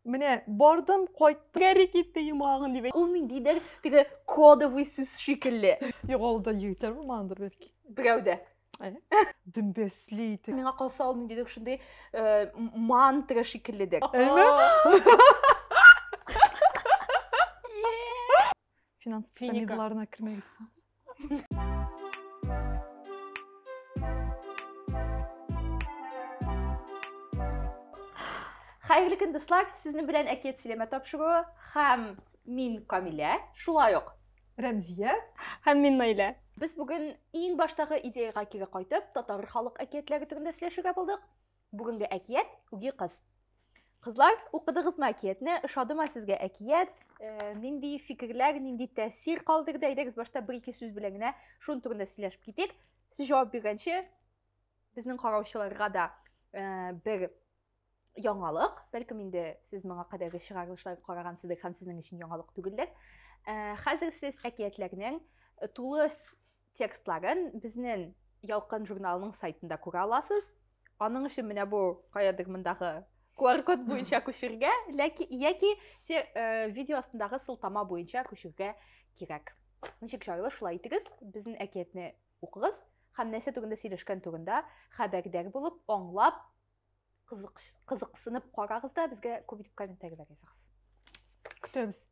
Менә бардым, кайттым. Гәрри китте йомагын дип. Ул ниндидер теге кодовый сүз шикелле. Югалда егетләр булмагандыр бәлки. Берәүдә. Дөмбәсли итеп. Миңа калса ул ниндидер шундый э, мантра шикелле дә. Әйме? Finans piramidlarına kirmeliyiz. Хәерле көн, дуслар! Сезнең белән Әкият сөйләмә тапшыруы һәм мин Камилә, шулай ук Рәмзия һәм мин Наилә. Без бүген иң баштагы идеяга кире кайтып, татар халык әкиятләре турында сөйләшергә булдык. Бүгенге әкият үги кыз. Кызлар, укыдыгызмы әкиятне? Ошадымы сезгә әкият? Э, нинди фикерләр, нинди тәэсир калдырды? Әйдәгез башта бер ике сүз белән генә шун турында сөйләшеп китик. Сез җавап биргәнче безнең караучыларга да э, бер яңалык, бәлкем инде сез моңа кадәрге чыгарылышлар карагансыздыр һәм сезнең өчен яңалык түгелдер. Э, хәзер сез әкиятләрнең э, тулы Текстларын безнең Ялкын журналының сайтында күрә аласыз. Аның өчен менә бу каядыр мондагы QR-код буенча күчергә, ләки яки те, э, видео астындагы сылтама буенча күчергә кирәк. Ничек җайлы шулай итегез, безнең әкиятне укыгыз һәм нәрсә турында сөйләшкән турында хәбәрдар булып, аңлап, кызыксынып карагыз да безгә күп итеп комментарийлар языгыз көтәбез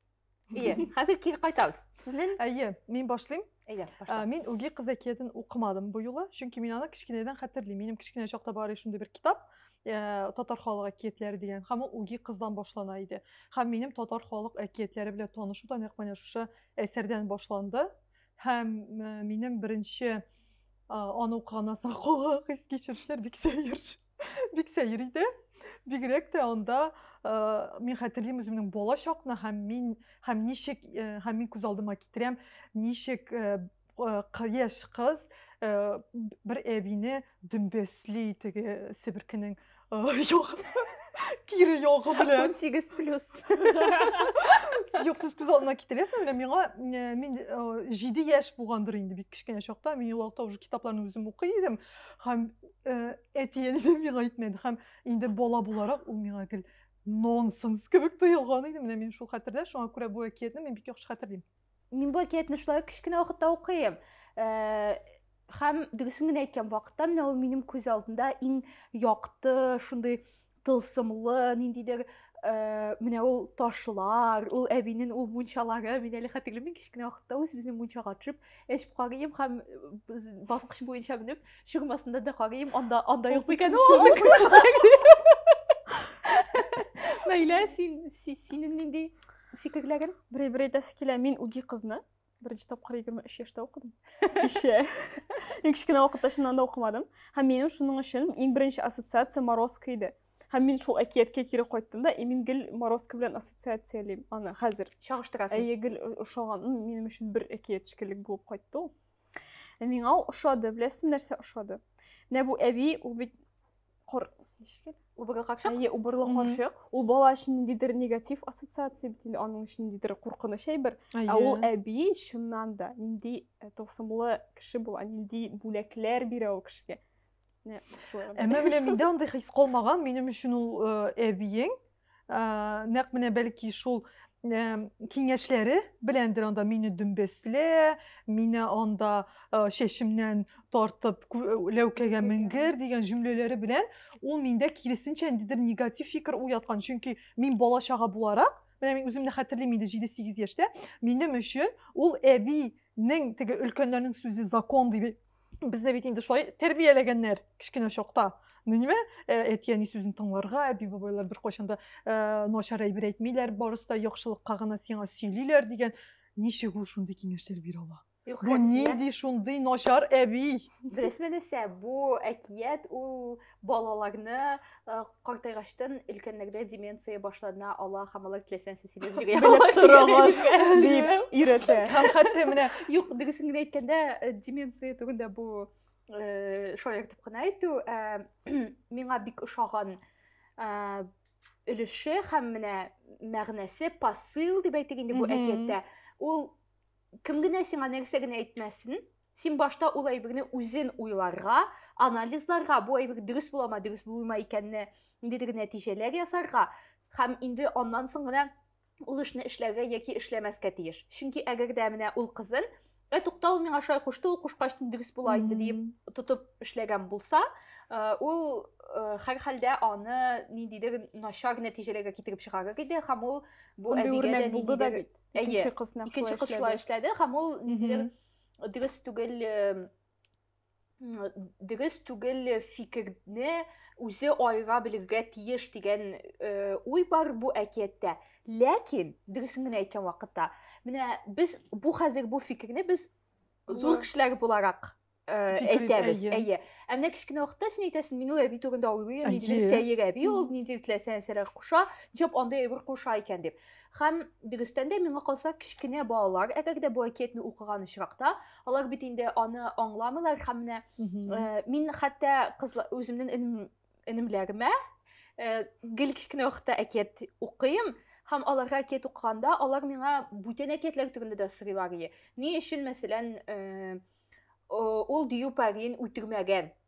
ие хәзер кире кайтабыз сезнең әйе мин башлыйм әйдә башла мин үги кыз әкиятен укымадым бу юлы чөнки мин аны кечкенәдән хәтерлим минем кечкенә чакта бар иде шундый бер китап ә, татар халык әкиятләре дигән һәм ул үги кыздан башлана иде һәм минем татар халык әкиятләре белән танышу да нәкъ менә шушы әсәрдән башланды Һәм э, минем беренче э, аны укыганнан соң калган хис-кичерешләр бик сәер. Бик сәер иде. Бигрәк тә анда э, мин хәтерлим үземнең бала чакны һәм мин һәм ничек э, һәм мин күз алдыма китерәм, ничек э, э, кы- яшь кыз э, б- бер әбине Дөмбәсли теге себеркенең ягы. Кире ягы белән. 18 плюс. Юк, сез күз алдына китерәсең белән миңа э, мин 7 э, яшь булгандыр инде бик кечкенә чакта мин ул уже китапларны үзем укый идем һәм э, әти әнием миңа әйтмәде һәм инде бала буларак ул миңа гел нонсенс кебек тоелган иде менә мин шул хәтердә шуңа күрә бу әкиятне мин бик яхшы хәтерлим Мин бу әкиятне шулай ук кечкенә вакытта укыйм. Э, һәм дөресен генә әйткән вакытта менә ул минем күз алдында иң якты, шундый тылсымлы, ниндидер э, менә ул ташлар, ул әбинең ул мунчалары, мин әле хәтерлим, мин кечкенә вакытта үз безнең мунчага төшеп, эчеп карыйм һәм баскыч буенча менеп, чыгмасында да карыйм, анда анда юк икән ул. Наилә, син синең нинди фикерләген берәй бер әйтәсе килә мин үги кызны беренче тапкыр егерме өч яшьтә укыдым кеше мин кечкенә вакытта чыннан да укымадым һәм минем шуның өчен иң беренче ассоциация морозко иде һәм мин шул әкияткә кире кайттым да и мин гел морозко белән ассоциациялим аны хәзер чагыштырасың әйе гел ошаган минем өчен бер әкият шикелле булып кайтты ул миңа ошады беләсеңме нәрсә ошады менә бу әби ул бит Кор... Ничек Убырлы капчык? Әйе, убырлы капчык. Ул бала өчен ниндидер негатив ассоциация бит инде, аның өчен ниндидер куркыныч әйбер. Ә ул әби чыннан да нинди э, тылсымлы кеше була, нинди бүләкләр бирә ул кешегә. Әмма менә миндә андый хис калмаган, минем өчен ул э, әбиең, нәкъ менә бәлки шул киңәшләре беләндер анда мине дөмбәслә мине анда чәчемнән тартып ләүкәгә менгер дигән җөмләләре белән ул миндә киресенчә ниндидер негатив фикер уяткан чөнки мин бала чага буларак менә мин үземне хәтерлим инде җиде сигез яшьтә минем өчен ул әбинең теге өлкәннәрнең сүзе закон дип Безне бит инде шулай тәрбияләгәннәр кечкенә чакта. Ну нимә, э, әти-әни сүзен тыңларга, әби-бабайлар беркайчан да э, начар әйбер әйтмиләр, барысы да яхшылыкка гына сиңа сөйлиләр дигән. Ничек ул шундый киңәшләр бирә ала? Юк, Бу нинди шундый начар әби? Беләсезме нәрсә, бу әкият ул балаларны э, картайгачтан өлкәннәрдә деменция башлана ала һәм алар теләсәңсез сөйләп җигә белеп торыгыз дип өйрәтә һәм хәтта менә юк дөресен генә әйткәндә э, деменция турында бу э, шаяртып кына әйтү миңа бик ошаган өлеше һәм менә мәгънәсе посыл дип әйтик инде бу әкияттә ул кем генә сиңа нәрсә генә әйтмәсен Син башта ул әйберне үзен уйларга, анализларга, бу әйбер дөрес буламы, дөрес булмый икәнне, ниндидер нәтиҗәләр ясарга һәм инде аннан соң гына ул эшне эшләргә яки эшләмәскә тиеш. Чөнки әгәр дә менә ул кызын ә тукта ул миңа шулай кушты ул кушкач дөрес була инде диеп тотып эшләгән булса э, ул э, һәрхәлдә аны ниндидер начар нәтиҗәләргә китереп чыгарыр иде һәм ул бу әбигә дә булды да бит икенче кыз икенче кыз шулай эшләде һәм ул ниндидер дөрес түгел дөрес түгел фикерне үзе айга белергә тиеш дигән уй бар бу әкияттә ләкин дөресен генә әйткән вакытта менә без бу хәзер бу фикерне без зур кешеләр буларак әйтәбез әйе ә менә кечкенә вакытта син әйтәсең мин ул әби турында уйлыйм ниндидер сәер әби ул ниндидер теләсә нәрсәләр куша нишләп андый әйбер куша икән дип Һәм, дөрестән дә, миңа калса, кечкенә балалар, әгәр дә бу әкиятне укыган очракта, алар бит инде аны аңламыйлар һәм менә э, мин хәтта кызлар үземнең энемләрмә э, гел кечкенә вакытта әкият укыйм, һәм аларга әкият укыганда алар миңа бүтән әкиятләр турында да сорыйлар ие ни өчен мәсәлән э, ул дию пәрин үтергмәгән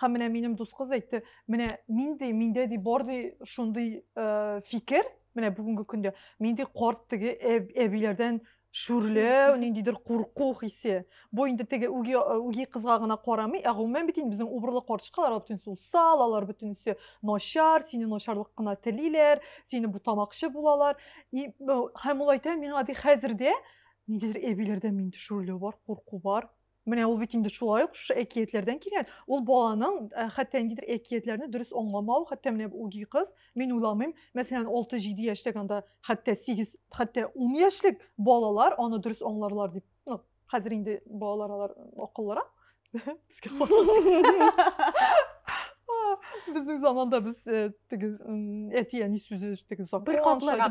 Һәм менә минем дус кыз әйтте, менә мин ди, миндә ди бар ди шундый э, фикер, менә бүгенге көндә мин ди карт теге әб, әбиләрдән шүрләү, ниндидер курку хисе. Бу инде теге үги үги кызга гына карамый, ә гомумән бит инде безнең убырлы карчыкалар алар бөтенесе усал, алар бөтенесе начар, сине начарлык кына телиләр, сине бутамакчы булалар. И һәм ул әйтә миңа ди хәзер дә ниндидер әбиләрдән мин шүрләү бар, курку бар. Менә ул бит инде шулай ук шушы әкиятләрдән килгән. Ул баланың э, хәтта ниндидер әкиятләрне дөрес аңламау, хәтта менә бу үги кыз, мин уйламыйм, мәсәлән, 6-7 яшьтәге анда хәтта 8, хәтта 10 яшьлек балалар аны дөрес аңларлар дип. Ну, хәзер инде балалар алар акыллырак. Безнең заманда без э, теге әти әни сүзе теге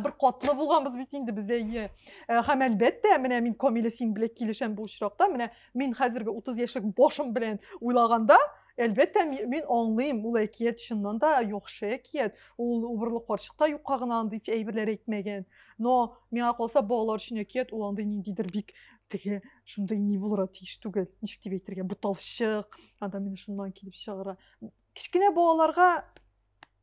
бер катлы булганбыз бит инде без әйе. Э, һәм әлбәттә менә мин камилә син белән килешәм бу очракта менә мин хәзерге 30 яшьлек башым белән уйлаганда әлбәттә мин аңлыйм ул әкият чыннан да яхшы әкият ул убырлы карчык та юкка гына андый әйберләр әйтмәгән но миңа калса балалар өчен әкият ул андый ниндидер бик теге шундый ни булырга тиеш түгел ничек дип әйтергә буталчык анда менә шуннан килеп чыгара кечкенә балаларга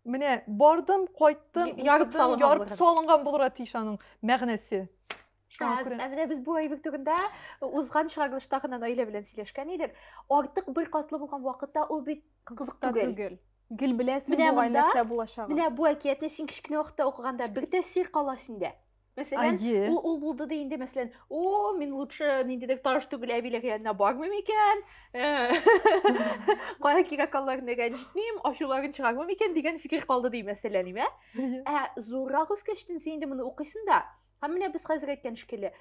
Менә бардым, кайттым, ярып салынган, ярып салынган булырга тиеш аның мәгънәсе. Ә менә без бу әйбер турында узган чыгарылышта гына Наилә белән сөйләшкән идек. Артык бер катлы булган вакытта ул бит кызык түгел. Гел беләсең бугай нәрсә булачагын. Менә бу әкиятне син кечкенә вакытта укыганда бер тәэсир кала синдә. Мәсәлән, Әйе. ул ул булды ди инде, мәсәлән, о, мин лучше ниндидер таш түгел әбиләр янына бармыйм икән, кая кирә калларына рәнҗетмим, ачуларын чыгармыйм икән дигән фикер калды ди, мәсәлән, имә. Ә зуррак үскәчтен син инде моны укыйсың да, һәм менә без хәзер әйткән шикелле,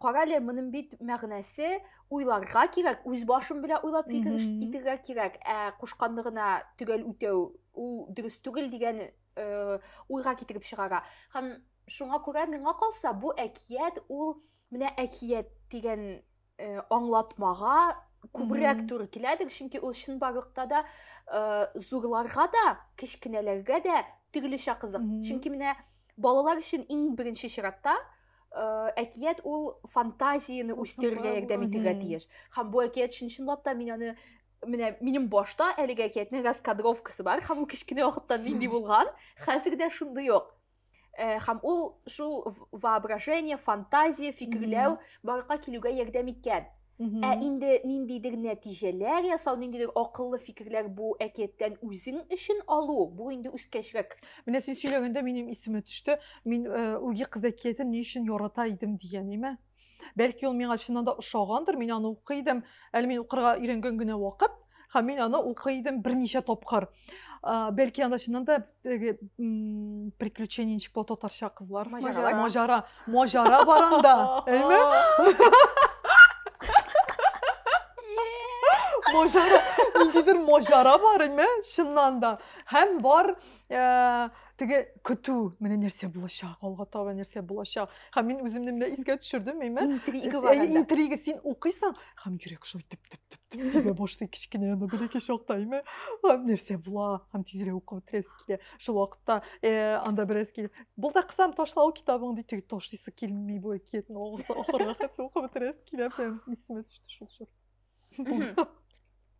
карале, моның бит мәгънәсе уйларга кирәк, үз башым белән уйлап фикер итәргә кирәк, ә кушканны гына төгәл үтәү ул дөрес түгел дигән э, уйга китереп чыгара һәм шуңа күрә миңа калса бу әкият ул менә әкият дигән э, аңлатмага күбрәк туры киләдер чөнки ул чынбарлыкта да э, зурларга да кечкенәләргә дә төрлечә кызык чөнки менә балалар өчен иң беренче чиратта э, әкият ул фантазияне үстерергә ярдәм итәргә тиеш һәм бу әкият чын чынлап та мин аны менә минем башта әлеге әкиятнең раскадровкасы бар һәм ул кечкенә вакытта нинди булган хәзер дә шундый ук э, һәм ул шул воображение фантазия фикерләү барлыкка килүгә ярдәм иткән ә инде ниндидер нәтиҗәләр ясау ниндидер акыллы фикерләр бу әкияттән үзең өчен алу бу инде үскәчрәк менә син сөйләгәндә минем исемә төште мин э, үги кыз әкиятен ни өчен ярата идем дигән име Бәлки ул миңа чыннан да ошагандыр, мин аны укый идем, әле мин укырга өйрәнгән генә вакыт, һәм мин аны укый идем берничә тапкыр. Бәлки анда чыннан да теге приключение ничек була татарча кызлар? Маҗара. Маҗара. Маҗара бар анда. Әйме? Маҗара. Ниндидер маҗара бар, әйме? Чыннан да. Һәм бар э, теге көтү, менә нәрсә булачак, алга таба нәрсә булачак. һәм мин үземне менә искә төшердем әйме интрига бар анда интрига син укыйсың һәм йөрәк шулай теп теп теп теп тибә башлый кечкенә ана бәләкәй чакта әйме һәм нәрсә була һәм тизрәк укып бетерәсе килә шул вакытта анда бераз килеп бул да кызым ташла ул китабыңды теге ташлыйсы килми бу әкиятне ахырга хәтле укып бетерәсе килә прям исемә төште шул чор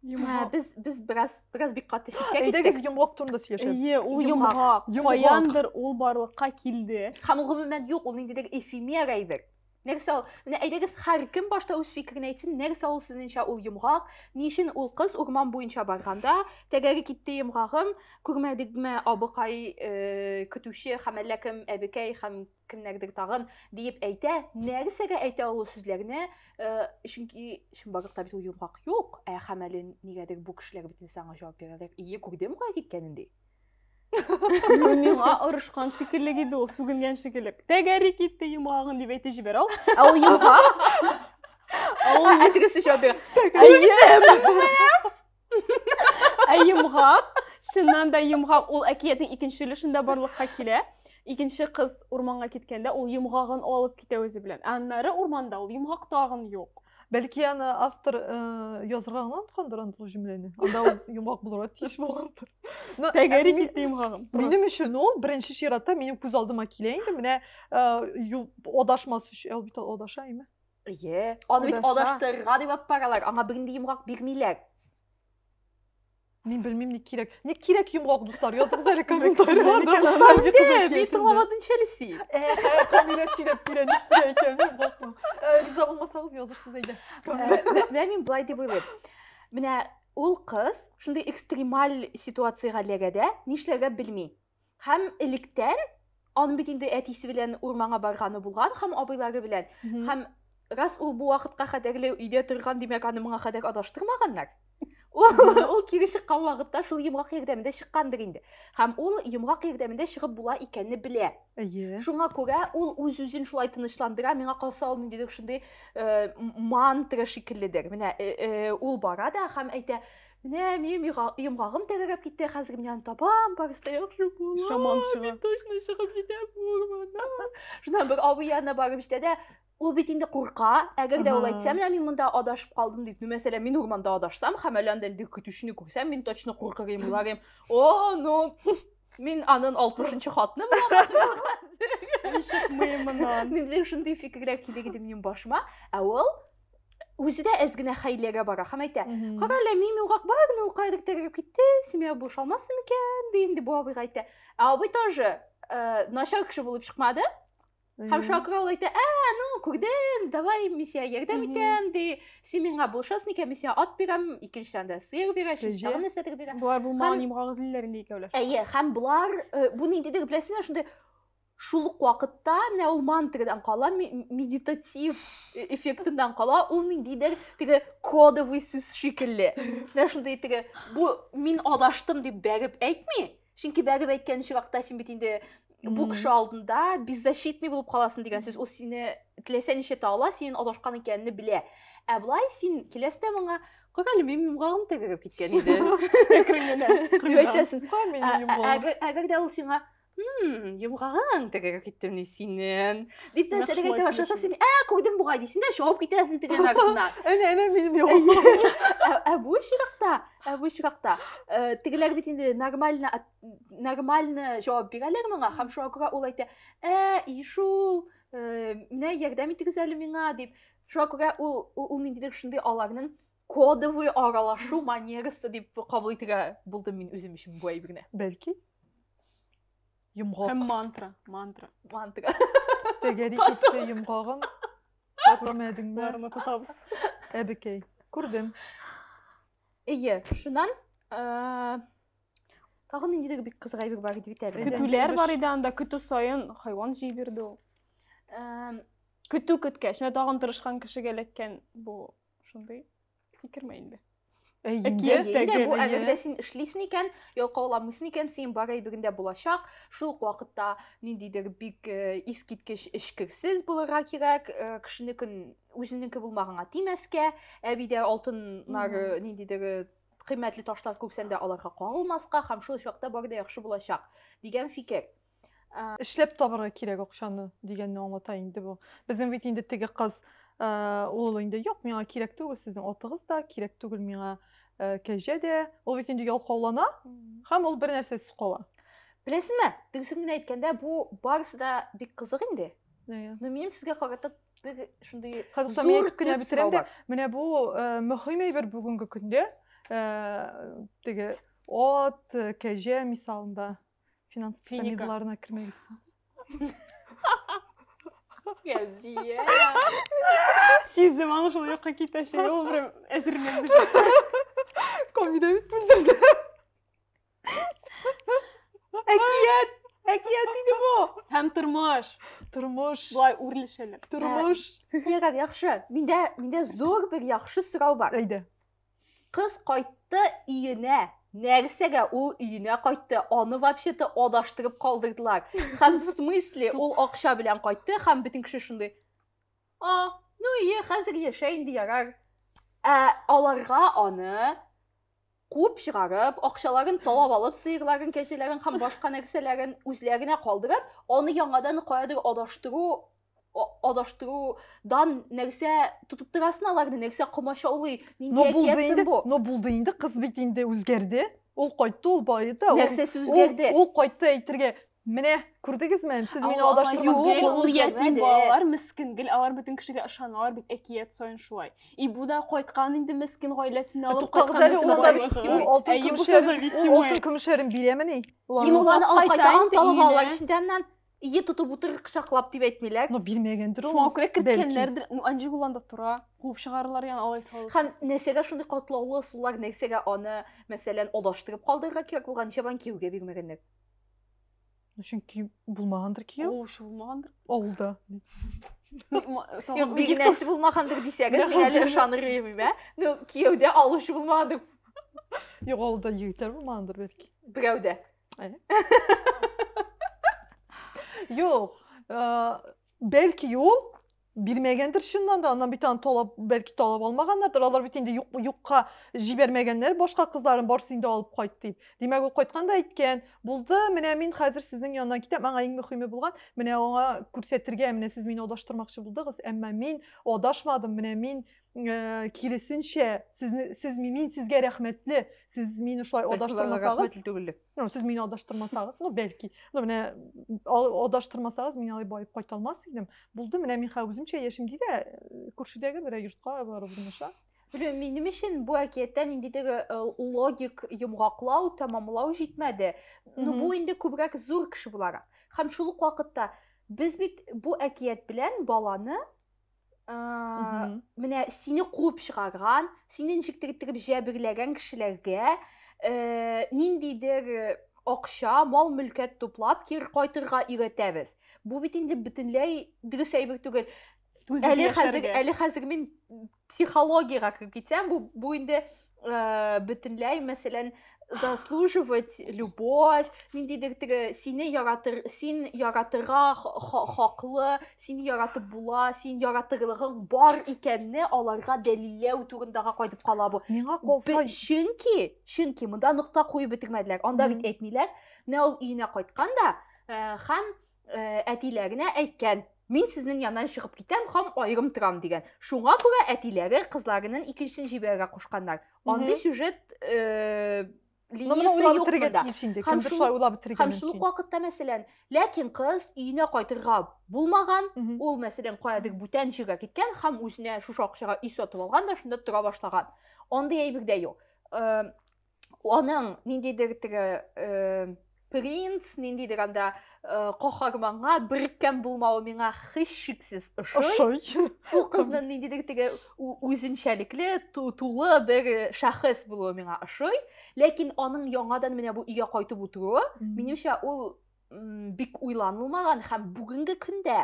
Ә, без без бераз бераз бик каты читкә киттек. Әйдәгез йомгак турында сөйләшәбез. Ие, ул йомгак. Каяндыр ул барлыкка килде. Һәм ул гомумән юк, ул ниндидер эфемер әйбер. Нәрсә ул? Менә әйдәгез һәр кем башта үз фикерен әйтсен, нәрсә ул сезнеңчә ул йомгак? Ни өчен ул кыз урман буенча барганда, тәгәре китте йомгагым, күрмәдегме, абыкай, э, көтүче һәм әллә кем әбекәй һәм кемнәрдер тагын диеп әйтә, нәрсәгә әйтә ул сүзләрне, э, чөнки чынбарлыкта бит ул йомгак юк, ә һәм әле нигәдер бу кешеләр бит инде саңа җавап бирәләр. Ие, күрдем кая киткәнен ди. Миңа орышкан шикелле иде ул, сүгенгән шикелле. Тәгәри китте йомгагын дип әйтеп җибәрә ул. Ә ул йомгак. Ә ул әтегесе җавап бирә. Күрдем. Ә йомгак, чыннан да йомгак, ул әкиятнең икенче өлешендә барлыкка килә. Икенче кыз урманга киткәндә ул йомгагын алып китә үзе белән. Ә аннары урманда ул йомгак тагын юк. Бәлки аны автор э, язырга гына онткандыр андый җөмләне. Анда ул йомгак булырга тиеш булгандыр. Но, Тәгәри ә, ми- китте йомгагым. Минем өчен ул беренче чиратта минем күз алдыма килә инде. Менә э, ю- адашмас өчен, ә ул бит адаша име? Әйе. Аны бит адаштырырга дип алып баралар, аңа бернинди йомгак бирмиләр. Мин белмим, ни кирәк. Ни кирәк йомгак, дуслар, языгыз әле комментарийларда. Инде, мин тыңламадым чәлеси. Камилә сөйләп бирә, ни кирәк икән йомгакны. Риза булмасагыз, язырсыз әйдә. Менә мин былай дип уйлыйм. Менә ул кыз шундый экстремаль ситуациягә эләгә дә, нишләргә белми. Һәм электән аны бит инде әтисе белән урманга барганы булган һәм абыйлары белән. Һәм раз ул бу вакытка хәтерле өйдә торган, димәк, аны моңа хәтер адаштырмаганнар. Ул кире чыккан вакытта шул йомгак ярдәмендә чыккандыр инде. Һәм ул йомгак ярдәмендә чыгып була икәнне белә. Әйе. Шуңа күрә ул үз-үзен шулай тынычландыра, миңа калса ул ниндидер шундый э, мантра шикелледер. Менә э, э, ул бара да һәм әйтә, Менә минем йомгагым тәгәрәп китте, хәзер мин аны табам, барысы яхшы була. Шаман чыга. Мин точно чыгып җитәм урманнан. Шуннан бер абый янына барып җитә дә, ул бит инде курка, әгәр дә ул әйтсә, менә мин монда адашып калдым дип, ну, мәсәлән, мин урманда адашсам, һәм әле анда инде көтүчене күрсәм, мин точно куркыр идем, уйлар идем, о, ну, мин анын 60-нчы хатыны булам. Мин чыкмыйм моннан. Мин шундый фикерләр килер иде минем башыма, ә ул үзе дә әз генә хәйләгә бара һәм әйтә кара әле мин югак бар генә ул каядыр тәгәрәп китте семья буш алмасын микән ди инде бу абыйга әйтә ә абый тоже э, начар кеше булып чыкмады һәм шуңа күрә ул әйтә ә ну күрдем давай мин сиңа ярдәм итәм ди син миңа булышасың икән мин сиңа ат бирәм икенчедән дә сыер бирә өченче тагын нәрсәдер бирә болар булмаган йомгак эзлиләр инде икәүләшеп әйе һәм болар э, бу ниндидер беләсеңме шундай Шул ук вакытта менә ул мантрадан кала, медитатив э, эффектыннан кала, ул ниндидер теге кодовый сүз шикелле. Менә шундый теге бу мин адаштым дип бәреп әйтми. Чөнки бәреп әйткән чиракта син бит инде бу кеше алдында беззащитный булып каласың дигән сүз. Ул сине теләсә ничә тала, синең адашкан икәнне белә. Ә былай син киләстә моңа Король мин муңагым тәгәрәп киткән иде. Әкрен генә. Әйтәсең. Әгәр дә ул сиңа Хм, йомгагаң тегәгә киттемни синен. Дип нәрсә дигән тә башласа син, ә, куйдым бугай дисен дә, чыгып китәсен тегән артына. Әнә, әнә минем йомгагым. Ә бу чиракта, ә бу чиракта э, тегеләр бит инде нормально нормально җавап бирәләр моңа, һәм шуңа күрә ул әйтә, ә, ишул, э, менә ярдәм итегез әле миңа дип. Шуңа күрә ул ул ниндидер шундый аларның кодовый аралашу манерасы дип кабул итергә булдым мин үзем өчен бу әйберне бәлки йомгак һәм мантра мантра мантра тәгәри китте йомгагым күрмәдеңме барына тотабыз әбекәй күрдем эйе шуннан тагы ниндидер бик кызык әйбер бар иде бит әле көтүләр бар иде анда көтү саен хайван җый бирде ул көтү көткәч менә тагын тырышкан кешегә эләккән бу Шундый фикерме инде? Әйе, әйе, бу әзердә син эшлисен икән, ялкауламыйсын икән, син бар әйберендә булачак. Шул ук вакытта ниндидер бик э, искиткеч эчкерсез булырга кирәк, э, кешенекен үзенеке булмаганга тимәскә, әбидә алтыннар э, ниндидер кыйммәтле ташлар күрсәндә аларга кагылмаска һәм шул чакта бар да яхшы булачак дигән фикер. эшләп табарга кирәк акчаны дигәнне аңлата инде бу безнең бит инде теге кыз ул инде юк миңа кирәк түгел сезнең атыгыз да кирәк түгел миңа кәҗә дә ул бит инде ялкаулана һәм ул бер нәрсәсез кала беләсезме тегесен генә әйткәндә бу барысы да бик кызык инде но минем сезгә карата бер шундый хәзер мин әйтеп кенә бетерәм дә менә бу мөһим әйбер бүгенге көндә теге ат кәҗә мисалында Финанс пирамидаларына кермәгез. Гәүзия. Сиздем, аны шул якка китәчәк. Ул прям әзерләнде. Комида бит белдерде. Әкият! Әкият диде бу. Һәм тормыш. Тормыш. Болай үрлешәләр. Тормыш. Ярар, яхшы. Миндә миндә зур бер яхшы сорау бар. Әйдә. Кыз кайтты иенә. Нәрсәгә ул иенә кайтты? Аны вообще-то адаштырып калдырдылар. Хәм в смысле ул акча белән кайтты, хәм битен кеше шундый. А, ну и хәзер яшә инде ярар. Ә аларга аны куып чыгарып, акчаларын талап алып, сыерларын, кәҗәләрен һәм башка нәрсәләрен үзләренә калдырып, аны яңадан каядыр адаштыру адаштырудан нәрсә тотып торасың аларны нәрсә комачаулый нинди әкиятсең бу но булды инде кыз бит инде үзгәрде ул кайтты ул баеды нәрсәсе үзгәрде ул кайтты әйтергә менә күрдегезме сез мине адаштырмакчы балалар мескен гел алар бөтен кешегә ышаналар бит әкият саен шулай и бу да кайткан инде мескен гаиләсен алып туктагыз әле ул да алтын көмешләрен бирәмени ул аны алып кайта анталап алалар ичендә аннан Ие тотып утыр кочаклап дип әйтмиләр. Ну, бирмәгәндер ул. Шуңа күрә керткәннәрдер. Ну, Анжи Гуланда тора. Куып чыгарырлар яны алай салып. Һәм нәрсәгә шундый катлаулы сулар, нәрсәгә аны, мәсәлән, адаштырып калдырырга кирәк булган, ничәбан кияүгә бирмәгәннәр? Ну, чөнки булмагандыр кияү. Куучы булмагандыр. Авылда. Юк, бигенәсе булмагандыр дисәгез, мин әле ышаныр идем, ә? Ну, кияүдә алучы булмагандыр. Юк, авылда егетләр булмагандыр бәлки. Берәүдә. Э. Юк, э, бәлки ул бирмәгәндер чыннан да, аннан бит аны талап, бәлки талап алмаганнардыр. Алар бит инде юк, юкка җибәрмәгәннәр башка кызларын барсын инде алып кайт дип. Димәк, ул кайткан да әйткән, булды, менә мин хәзер сезнең янына китәм, аңа иң мөһиме булган, менә аңа күрсәтергә, менә сез мине адаштырмакчы булдыгыз, әмма мин адашмадым, менә мин Э, киресенчә сезне сез мин сезгә рәхмәтле сез мине шулай адаштырмасагыз түгел ну сез мине адаштырмасагыз ну бәлки ну менә адаштырмасагыз мин алай баеп кайта алмас идем булды менә мин хәзер үземчә яшим ди дә күршедәге берәр йортка барып урнаша Белмим, минем өчен бу әкияттә ниндидер э, логик йомгаклау, тәмамлау җитмәде. Ну бу инде күбрәк зур кеше буларак. Һәм шул ук вакытта без бит бу әкият белән баланы менә сине куып чыгарган сине ничектер иттереп җәберләгән кешеләргә э, ниндидер э, акча мал мөлкәт туплап кире кайтырга өйрәтәбез бу бит инде бөтенләй дөрес әйбер түгел әле хәзер әле хәзер мин психологиягә кереп китсәм бу бу инде э, бөтенләй мәсәлән заслуживать любовь ниндидер теге сине яратыр син яратырга хаклы син яратып була син яратырлыгың бар икәнне аларга дәлилләү турындага кайтып кала бу миңа калса чөнки чөнки монда нокта куеп бетермәделәр анда бит әйтмиләр менә ул өенә кайткан да э, һәм э, әтиләренә әйткән мин сезнең яннан чыгып китәм һәм аерым торам дигән шуңа күрә әтиләре кызларының икенчесен җибәрергә кушканнар андый сюжет э, һәм шул ук вакытта мәсәлән ләкин кыз өенә кайтырга булмаган ул мәсәлән каядыр бүтән җиргә киткән һәм үзенә шушы акчага өй сатып алган да шунда тора башлаган андый әйбер дә юк аның ниндидер теге э, принц ниндидер анда э, каһарманга беркем булмавы миңа һичшиксез ошый ошый ул кызның ниндидер теге үзенчәлекле тулы бер шәхес булуы миңа ошый ләкин аның яңадан менә бу өйгә кайтып утыруы минемчә ул бик уйланылмаган һәм бүгенге көндә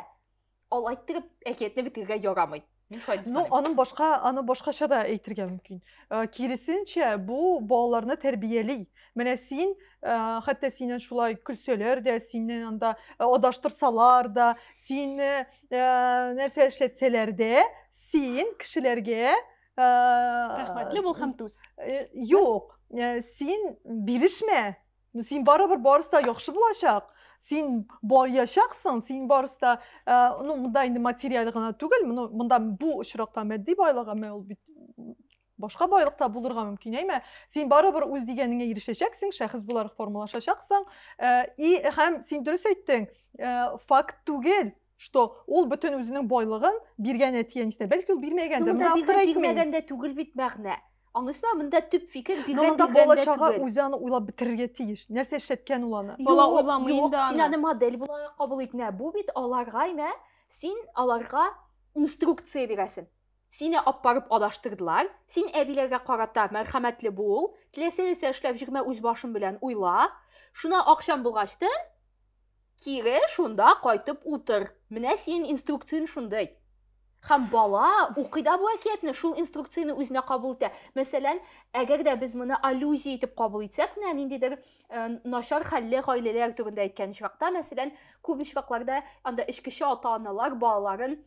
Ал айттырып әкиятне битергә ярамый. Ну, аның башка, аны башкача да әйтергә мөмкин. Э, киресенчә, бу балаларны тәрбияли. Менә син, э, хәтта синен шулай көлсәләр дә, синен анда э, адаштырсалар да, сине нәрсә эшләтсәләр дә, син кешеләргә рәхмәтле бул һәм түз. Юк, син бирешмә. Ну, син барыбер барысы да яхшы булачак. Син баячаксың, син барысы да, ә, ну, монда инде материаль гына түгел, моны монда бу очракта матди байлык, әмма ул бит башка байлыкта булырга мөмкин, әйме? Син барыбер үз дигәнеңә ирешәчәксең, шәхес буларак формалашачаксың. Ә, и һәм син дөрес әйттең, ә, факт түгел, что ул бөтен үзенең байлыгын биргән әти әнисенә бәлки ул бирмәгәндер монда автор бирмәгән дә түгел бит мәгънә аңлыйсызмы монда төп фикер биргән монда бала чага үзе аны уйлап бетерергә тиеш нәрсә эшләткән ул аны бала уйламый инде аны син аны модель буларак кабул ит менә бу бит аларга менә син аларга инструкция бирәсең сине алып барып адаштырдылар син әбиләргә карата мәрхәмәтле бул теләсә нәрсә эшләп җөрмә үз башың белән уйла шуна акчаң булгачтын Кире шунда кайтып утыр. Менә синең инструкцияң шундый. Хәм бала укый да бу әкиятне, шул инструкцияне үзенә кабул итә. Мәсәлән, әгәр дә без моны аллюзия итеп кабул итсәк, менә ниндидер э, начар хәлле гаиләләр турында әйткән очракта, мәсәлән, күп очракларда анда эчкече ата-аналар балаларын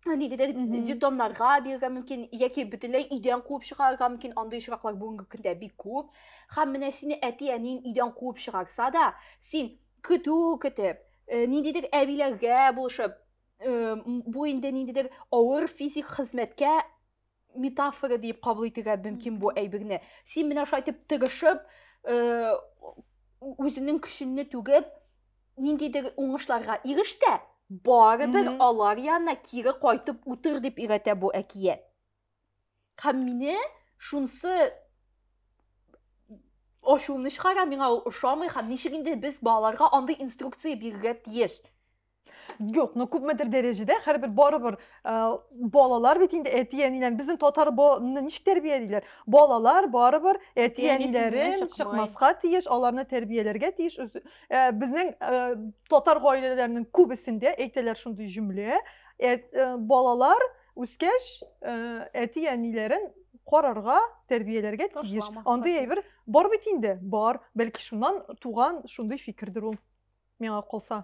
нигеде детдомнарга бирергә мөмкин яки бөтенләй өйдән куып чыгарырга мөмкин андый очраклар бүгенге көндә бик күп һәм менә сине әти әниең өйдән куып чыгарса да син көтү көтеп э, ниндидер әбиләргә булышып э, бу инде ниндидер авыр физик хезмәткә метафора диеп кабул итергә мөмкин бу әйберне син менә шулай итеп тырышып э, үзеңнең көчеңне түгеп ниндидер уңышларга иреш тә барыбер алар янына кире кайтып утыр дип өйрәтә бу әкият һәм мине шунсы ачуымны чыгара миңа ул ошамый һәм ничек инде без балаларга андый инструкция бирергә тиеш Юк, но күпмедер дәрәҗәдә хәрбер барыбер балалар бит инде әти-әниләрен безнең татар баланы ничек тәрбиялиләр? Балалар барыбер әти-әниләрен чыкмаска тиеш, аларны тәрбияләргә тиеш. Безнең татар гаиләләренең күбесендә әйтәләр шундый җөмлә, балалар үскәч әти-әниләрен карарга, тәрбияләргә тиеш. Андый әйбер бар бит инде, бар. Бәлки шуннан туган шундый фикердер ул. Миңа калса,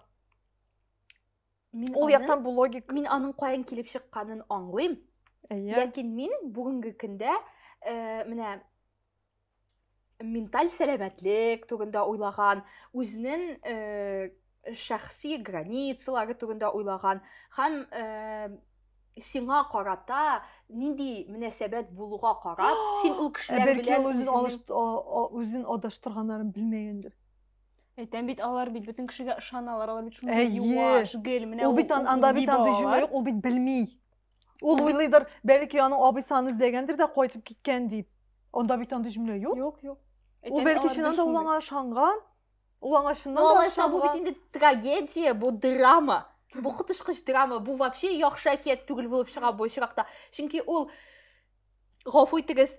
ул яктан бу логик. Мин аның каян килеп чыкканын аңлыйм. Әйе. Ләкин мин бүгенге көндә э, менә менталь сәламәтлек турында уйлаган, үзенең э, шәхси границалары турында уйлаган һәм э, сиңа карата нинди мөнәсәбәт булуга карап, син ул кешеләр белән үзен адаштырганнарын белмәгәндер. Әйтәм бит, алар бит бөтен кешегә ышаналар, алар бит шундый юаш, гел, менә ул бит анда бит андый җөмлә юк, ул бит белми. Ул уйлыйдыр, бәлки аның абыйсы аны эзләгәндер дә кайтып киткән дип. Анда бит андый җөмлә юк. Юк, юк. Ул бәлки чыннан да ул аңа ышанган. Ул аңа чыннан да ышанган. Бу бит инде трагедия, бу драма. Бу котышкыч драма, бу вообще яхшы әкият түгел булып чыга бу очракта. Чөнки ул гафу итегез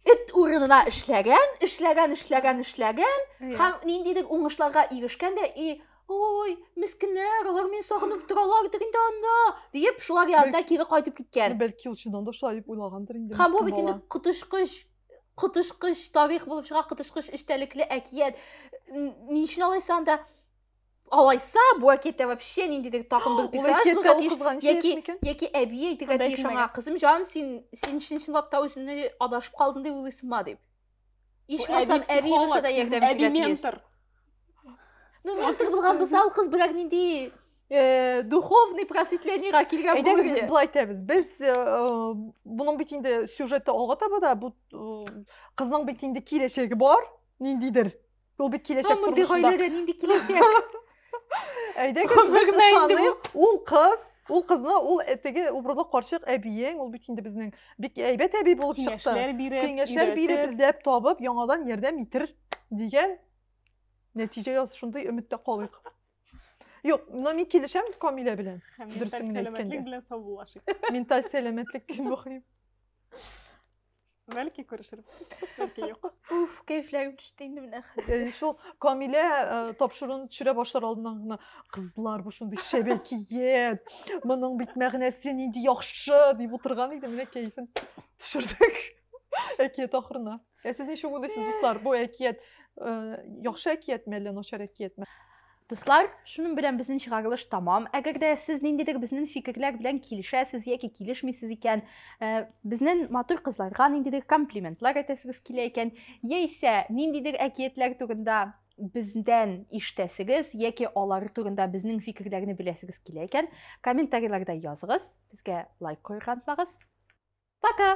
эт урынына эшләгән эшләгән эшләгән эшләгән һәм ниндидер уңышларга ирешкән дә и ой мескеннәр алар мине сагынып торалар дигән дә анда диеп шулар янына кире кайтып киткән бәлки ул чыннан да шулай дип уйлагандыр инде һәм бу бит инде коточкыч коточкыч тарих булып чыга коточкыч эчтәлекле әкият ни өчен алайса анда алайса бу әкиятә вообще ниндидер тагын бер яки яки әби әйтергә тиеш аңа кызым җан син син чын чынлап та үзеңне адашып калдың дип уйлыйсыңмы дип ичмасам әби булса да ярдәм итәргә тиеш ну ментор булган булса ул кыз берәр нинди э, духовный просветлениега килгән әйдәгез былай итәбез без э, э, буның бит инде сюжеты алга таба да бу кызның бит инде киләчәге бар ниндидер Ул бит киләчәк тормышында. Мондый нинди киләчәк? Әйдәгез, без ышаныйк. Ул кыз, ул кызны, ул теге убрылы карчык әбиең, ул бит инде безнең бик әйбәт әби булып чыкты. Киңәшләр биреп, киңәшләр биреп, эзләп табып, яңадан ярдәм итер дигән нәтиҗәгә шундый өметтә калыйк. Юк, но мин килешәм Камилә белән. Дөресен генә әйткәндә. Менталь сәламәтлек белән саубуллашыйк. Менталь сәламәтлек мөһим. Бәлки күрешербез. Бәлки юк. Уф, кәефләрем төште инде менә хәзер. Шул Камилә э, тапшыруны төшерә башлар алдыннан гына кызлар бу шундый шәбәкият. Моның бит мәгънәсе нинди яхшы дип утырган иде, менә кәефен төшердек. Әкият ахырына. Ә сез ничек уйлыйсыз, дуслар, бу әкият э, яхшы әкиятме әллә начар әкиятме? Дуслар, шуның белән безнең чыгарылыш тамам. Әгәр дә сез ниндидер безнең фикерләр белән килешәсез яки килешмисез икән, э, безнең матур кызларга ниндидер комплиментлар әйтәсегез килә икән, яисә ниндидер әкиятләр турында бездән ишетәсегез яки алар турында безнең фикерләрне беләсегез килә икән, комментарийларда языгыз, безгә лайк куярга онытмагыз. Пока!